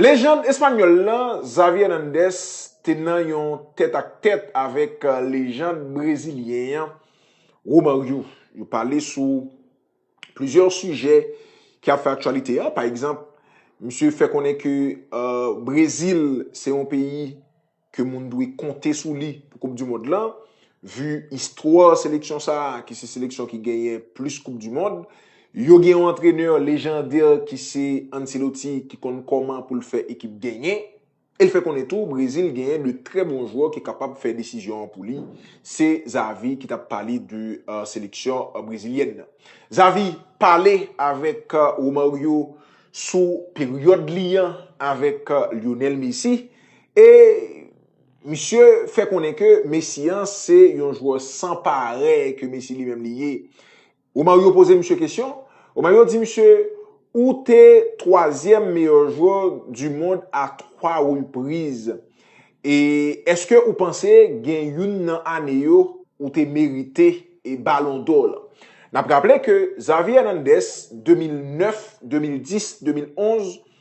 Lejand espanyòl lan, Xavi Hernandez te nan yon tèt ak tèt avèk lejand brezilyen an, Romario. Yo pale sou plizyè sijè ki ap fè aktyalite an. Pa egzanp, misye fè konnen ke Brezil se yon peyi. ke moun dwe konte sou li pou koup du mond lan, vu istwa seleksyon sa a ki se seleksyon ki genyen plis koup du mond, yo gen yon antrenè lejandè ki se Ancelotti ki konn kòman pou l fè ekip genyen, e l fè konnen tou Brezil genyen de trè bon jwè ki kapab fè desizyon an pou li, se Xavi ki t ap pale de seleksyon brezilyèn nan. Xavi pale avèk Romario sou peryòd li an avèk Lionel Messi, E misye fè konnen ke Messi an se yon jwè san parèy ke Messi li menm li ye. Romario poze misye kesyon, Romario di misye, ou te twazyèm meyè jwè du mond a twa repriz. E eske ou panse gen youn nan ane yo ou te merite e balon dò lan? N ap raple ke Xavi Hernandez 2009, 2010, 2011.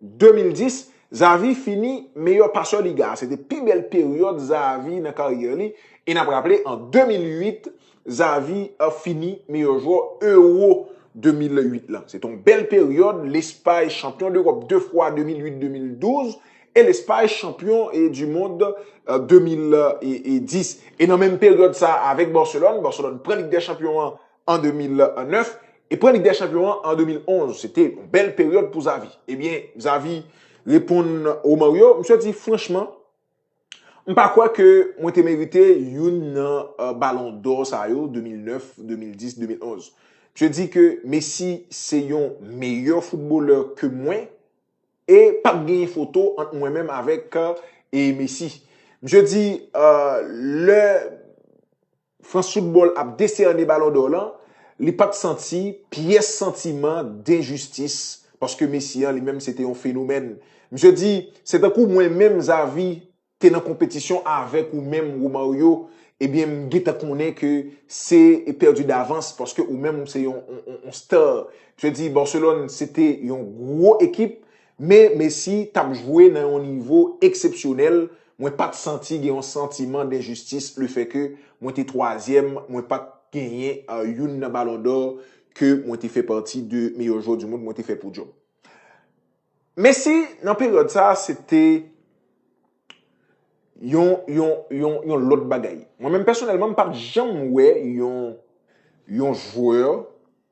2010, Xavi fini meyè pasè Liga a. Se te pi bèl peryòd Xavi nan karyè li e n ap raple an 2008, Xavi fini meyè jwè Euro 2008 lan. Se te yon bèl peryòd, Lespay chanpyon dEròp 2 fwa 2008, 2012 e Lespay chanpyon di mond 2010. E nan menm peryòd sa a avèk Barcelone, Barcelone pran Lig dè chanpyon an an 2009 e pran Lig dè Chanpyon an an 2011. Se te yon bèl peryòd pou Xavi. Ebyen, Xavi reponn Romario, misye di, franchman, m pa kwè ke mwen te merite youn nan balon dò sa yo, 2009, 2010, 2011. Misye di ke Messi se yon meyè foutbolè ke mwen e pa p genyen foto ant mwen menm avèk Messi. Misye di, lè. France Football ap deserne Ballon d'Or lan, li pa t santi pyès santiman denjistis paske Messi an li menm se te yon fenomèn. Misye di, Se tankou mwen menm Xavi te nan konpetisyon avèk ou menm Romario, ebyen m gentan konnen ke se pèdi davans paske ou menm ou se yon star. Misye di Barcelone se te yon gwo ekip, Men Messi t ap jwe nan yon nivo eksepsyonèl, mwen pa t santi gen yon santiman denjistis lefèke mwen te twazyèm, mwen pa t genyen youn nan Ballon d'Or ke mwen te fè pati de meyè jwè du mond mwen te fè podyòm. Messi nan peryòd sa a se te yon yon yon yon lòt bagay. Mwen menm pèsonèlman m pa t janm wè yon yon jwè.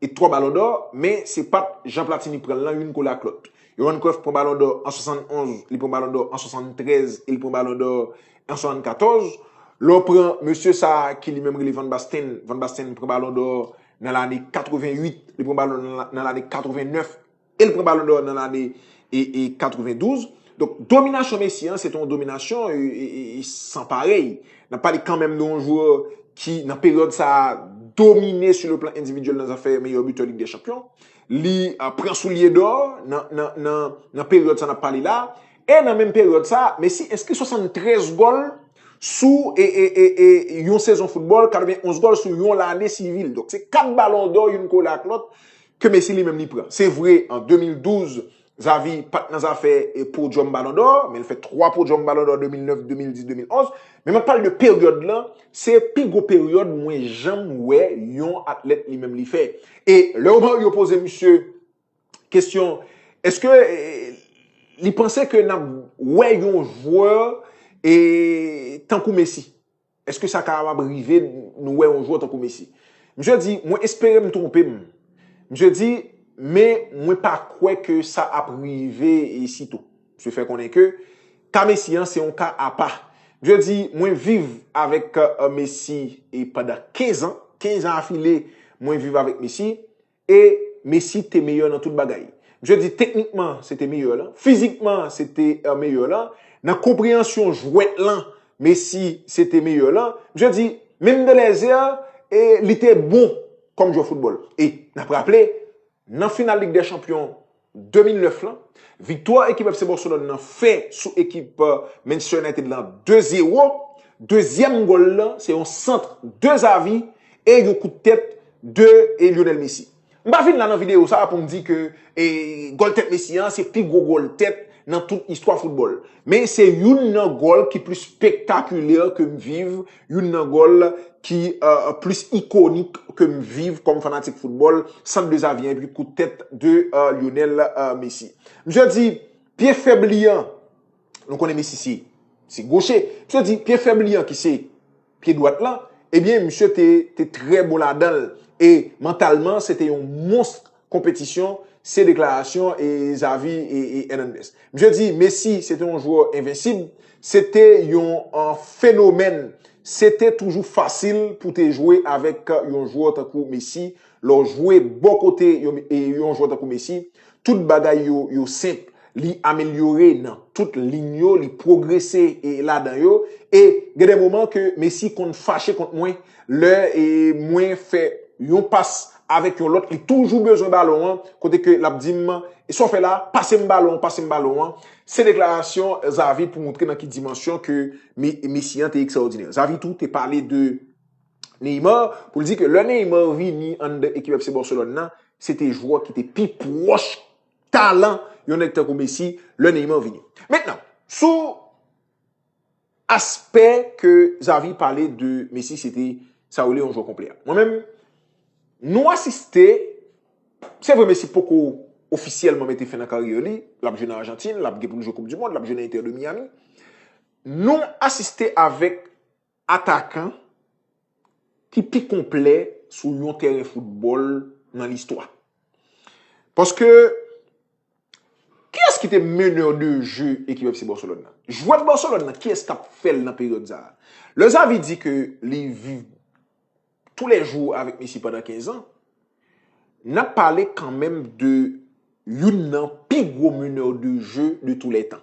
e 3 balon dò, men se pat jan Platini pranl lan youn kole ak lòt. Johan Cruyff pran balon dò an 71, li pran balon dò an 73 e li pran balon dò an 74. Lè w pran mesye sa ki li menm rele Van Basten, Van Basten pran balon dò nan lane 88, li pran balon nan lane 89. e l pran Balon dò nan lane 92. Donk dominasyon Messi an se te yon dominasyon san parèy. N ap pale kanmenm de yon jwè ki nan peryòd sa a domine sou le plan endividyèl nan zafè meyè bitè Lig dè Chanpyon. Li pran Soulye dò nan peryòd sa n ap pale la. E nan menm peryòd sa a Messi enskri 73 gòl sou yon sezon foutbòl, 91 gòl sou yon lane sivil. Donk se 4 Balon dò youn kole ak lòt Ke Messi li menm li pran. Se vre an 2012, Xavi pat nan zafè podyòm Balon dò, men li fè 3 podyòm Balon dò 2009, 2010, 2011. Men map pale de peryòd lan, se pi gwo peryòd mwen janm wè yon atlèt li menm li fè. E lè Romario poze misye kesyon, eske li panse ke nap wè yon jwè tankou Messi? Eske sa kapab rive nou wè yon jwè tankou Messi? Misye di, mwen espere m twonpe m. Misye di, men mwen pa kwè ke sa ap rive sito. Misye fè konnen ke ka Messi an se yon ka apa. Misye di, mwen viv avèk Messi pandan 15 an. 15 an afile mwen viv avèk Messi. E Messi te meyè nan tout bagay. Msye di teknikman se te meyè lan, fizikman se te meyè lan, nan konpreyansyon jwèt lan Messi se te meyè lan. Msye di menm de lèzè li te bon kòm jwè foutbòl. E nap raple nan final lig dè chanpyon. 2009 lan, viktwa ekip FC Barcelone lan fè sou ekip Manchester United lan 2 zero, dezyèm gòl lan se yon sant de Xavi e yon kout tèt de Lionel Messi. M pa vin la nan videyo sa pou m di ke gòl tèt Messi an se pi gwo gòl tèt nan tout istwa foutbòl, men se youn nan gòl ki plis spektakilè ke m viv Youn nan gòl ki plis ikonik ke m viv kòm fanatik foutbòl, sant de Xavier epi kout tèt de Lionel Messi. Misye di pye fèb li an, nou konnen Messi se se goche, misye di pye fèb li an ki se pye dwat lan, ebyen misye te trè bon ladan l e mantalman se te yon monstr. konpetisyon, se deklarasyon Xavi Hernandez. Misye di Messi se te yon jwè envensib, se te yon fenomèn, se te toujou fasil pou te jwe avèk yon jwè tankou Messi, lè w jwe bò kote yon jwè tankou Messi, tout bagay yo senp. Li amelyore nan tout lign yo, li pwogrese ladan yo e gen de moman ke Messi konn fache kont mwen lè mwen fè yon pas avèk yon lòt, li toujou bezwen balon an kote ke l ap di m sa w fè la, pase m balon an, pase m balon an. Se deklarasyon Xavi pou montre nan ki dimansyon ke Messi an te ekstraòdinè. Xavi tou te pale de Neymar pou l di ke lè Neymar vini anndan ekip FC Barcelone nan, se te jwè ki te pi pwòch talan yon nèg tankou Messi lè Neymar vini. Mentnan, sou aspè ke Xavi pale de Messi se te sa yo rele yon jwè konplè. Mwen menm, nou asiste, se vre Messi poko ofisyèlman mete fen nan karyè li, l ap jwe nan Ajantin, l ap gen pou l jwe koup di mond, l ap jwe nan Inter de Miami, nou asiste avèk Atakan ki pi konplè sou yon tèren foutbòl nan listwa. Paske, kiyès ki te meneur de jeu ekip FC Barcelone nan? Jwè Barcelone nan, kiyès k ap fè l nan peryòd sa a? Lè Xavi di ke li viv tou lè jou avèk Messi pandan 15 an, n ap pale kanmenm de youn nan pi gwo meneur de jeu de tou lè tan.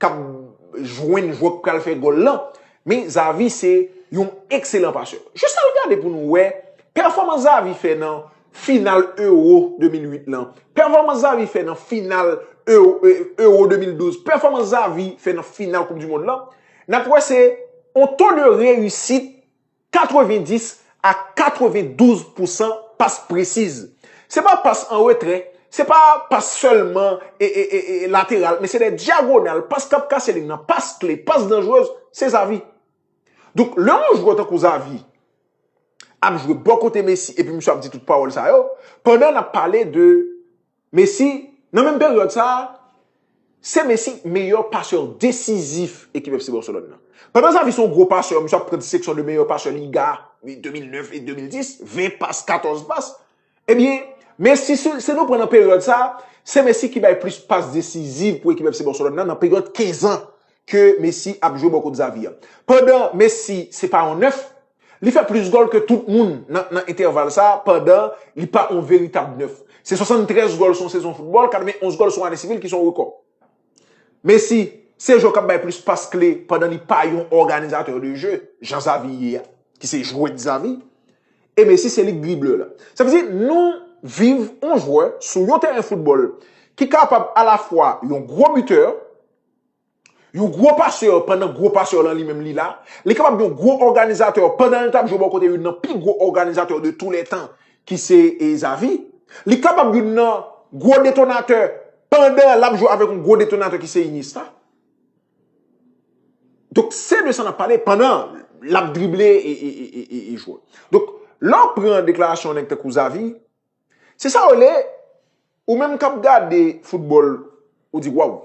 kap jwenn jwè k pral fè gòl lan, men Xavi se yon ekselan pasè. Jis al gade pou nou wè pèfòmans Xavi fè nan final Euro 2008 lan, pèfòmans Xavi fè nan final Euro 2012, pèfòmans Xavi fè nan final koup di mond lan, nap wè se yon to de reyisit 90 a 92 pousan pas presiz. Se pa pas an retrè, se pa pas sèlman lateral, men se de dyagonal, pas k ap kase lig nan, pas kle, pas danjrez, se Xavi. Donk, lè yon jwè tankou Xavi ap jwe bò kote Messi epi misye ap di tout pawòl sa yo, pandan n ap pale de Messi, nan menm peryòd sa a, se Messi meyè pasè desizif ekip FC Barcelone nan. Pandan Xavi se yon gwo pasè, misye ap pran disteksyon de meyè pasè Liga 2009 et 2010, 20 pas, 14 pas, ebyen, Messi, si nou pran nan peryòd sa a, se Messi ki bay plis pas desizif pou ekip FC Barcelone nan, nan peryòd 15 ans ke Messi ap jwe bò kot Xavi a. Pandan Messi se pa yon 9. Li fè plis gòl ke tout moun nan entèval sa a pandan li pa yon veritab nèf. Se 73 gòl sou yon sezon foutbòl, 91 gòl sou yon ane sivil ki se yon rekò. Messi se jwè k ap bay plis pas kle pandan li pa yon òganizatè de je jan Xavi ye a, ki se jwèt Xavi, e Messi se li k driblè la. Sa vle di nou viv yon jwè sou yon tèren foutbòl ki kapab alafwa yon gwo bitè, Yon gwo pasè pandan gwo pasè lan li menm li la, li kapab yon gwo òganizatè pandan l t ap jwe bò kote youn nan pi gwo òganizatè de tou lè tan ki se Xavi, li kapab youn nan gwo detonatè pandan l ap jwe avèk yon gwo detonatè ki se Iniesta. Donk se de sa n ap pale pandan l ap drible e jwe. Donk lè w pran deklarasyon yon nèg tankou Xavi, se sa w rele ou menm k ap gade foutbòl ou di waww.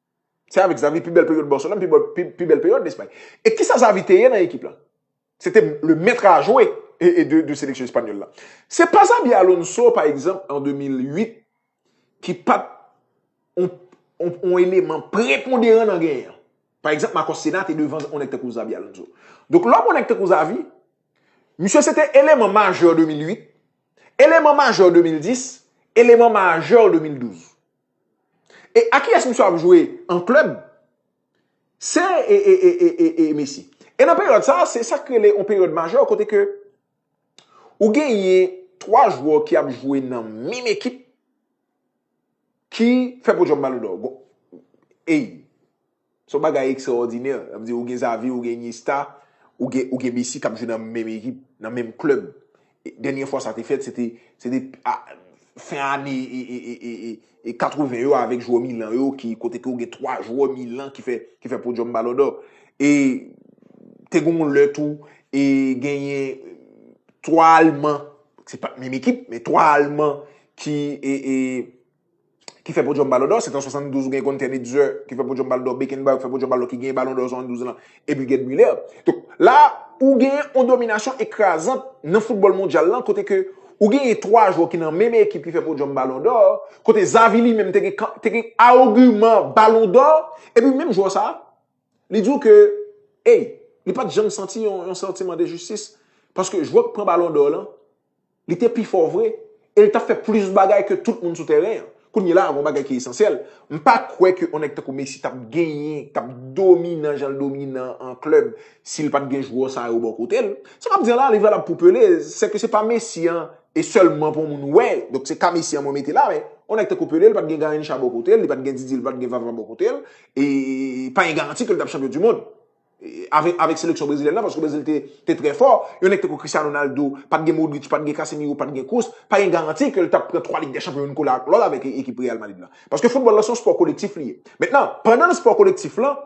Se avèk Xavi pi bèl peryòd Barcelone, pi bèl pi bèl peryòd Espay. E kisa Xavi te ye nan ekip la? Se te le maître à jouer e de de seleksyon espanyòl la. Se pa Xabi Alonso pa egzanp an 2008 ki pat on on on eleman preponderan nan genyen an. Pa egzanp Marcos Senna te devan on nèg tankou Xabi Alonso. Donk lè w pran nèg tankou Xavi, misye se te eleman majè 2008, eleman majè 2010, eleman majè 2012. E a kiyès misye ap jwe an klèb? Se e Messi. E nan peryòd sa, se sak rele yon peryòd majè kote ke ou genyen 3 jwè ki ap jwe nan menm ekip ki fè podyòm balondò. Gon, ey! Son bagay ekstraòdinè, sa vle di ou gen Xavi, ou gen Iniesta, ou gen ou gen Messi kap jwe nan menm ekip, nan menm klèb. Dènyè fwa sa te fèt se te se te a fen ane e 80 yo avèk jwè Milan yo ki kote ke ou gen 3 jwè Milan ki fè ki fè podyòm Ballon d'Or. E te gen yon lè tou e genyen 3 alman, se pat menm ekip, men 3 alman ki e e ki fè podyòm balon dò, se t an 72 ou gen Gunter Netzer ki fè podyòm balon dò, Beckenbauer ki fè podyòm balon dò ki genyen balon dò 72 lan epi Gerd Müller. Donk la ou genyen yon dominasyon ekrazant nan foutbòl mondyal lan kote ke ou genyen 3 jwè ki nan menm ekip ki fè podyòm balon dò, kote Xavi li menm te gen kan, te gen agiman balon dò epi menm jwè sa a li di w ke ey li pa t janm santi yon santiman de jistis paske jwè k pran balon dò lan Li te pi fò vre, e li t ap fè plis bagay ke tout moun sou tèren an. Kounye la a, gen yon bagay ki esansyèl, m pa kwè ke yon nèg tankou Messi t ap genyen, t ap dominan jan l dominan an klèb, si l pa t gen jwè sa yo bò kote l. Sa m ap di an la a, li valab pou Pelé, se ke se pa Messi an e sèlman pou yon moun wè, donk se ka Messi an mwen mete la, men yon nèg tankou Pelé, li pa t gen Garrincha bò kote l, li pa t gen Didier, li pa t gen Vava bò kote l, e pa gen garanti ke li t ap chanpyon dimond. avèk seleksyon brezilyèn nan paske Brezil te trè fò. Yon nèg tankou Cristiano Ronaldo, pa t gen Modric, pa t gen Casemiro, pa t gen Kroos, pa gen garanti ke l t ap pran 3 Lig dè Chanpyon youn kole ak lòt avèk ekip Real Madrid lan. Paske foutbòl lan se yon spò kolektif li ye. Mentnan, pandan nan spò kolektif lan,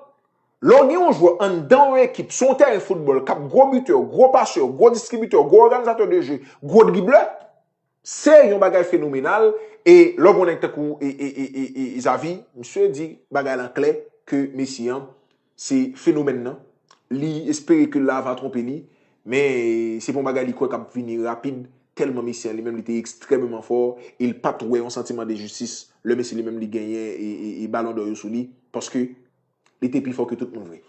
lè w gen yon jwè anndan yon ekip sou yon tèren foutbòl k ap gwo bitè, gwo pasè, gwo distribitè, gwo òganizatè de je, gwo driblè, Se yon bagay fenomenal e lè w gen yon nèg tankou Xavi, misye di bagay lan klè ke Messi an se fenomèn nan, li espere ke la va twonpe li, men se pa yon bagay li kwè kap vini rapid tèlman Messi an li menm li te ekstrèmeman fò e li pat wè yon santiman de jistis lè Messi li menm li genyen balon dò yo sou li paske li te pi fò ke tout moun vre.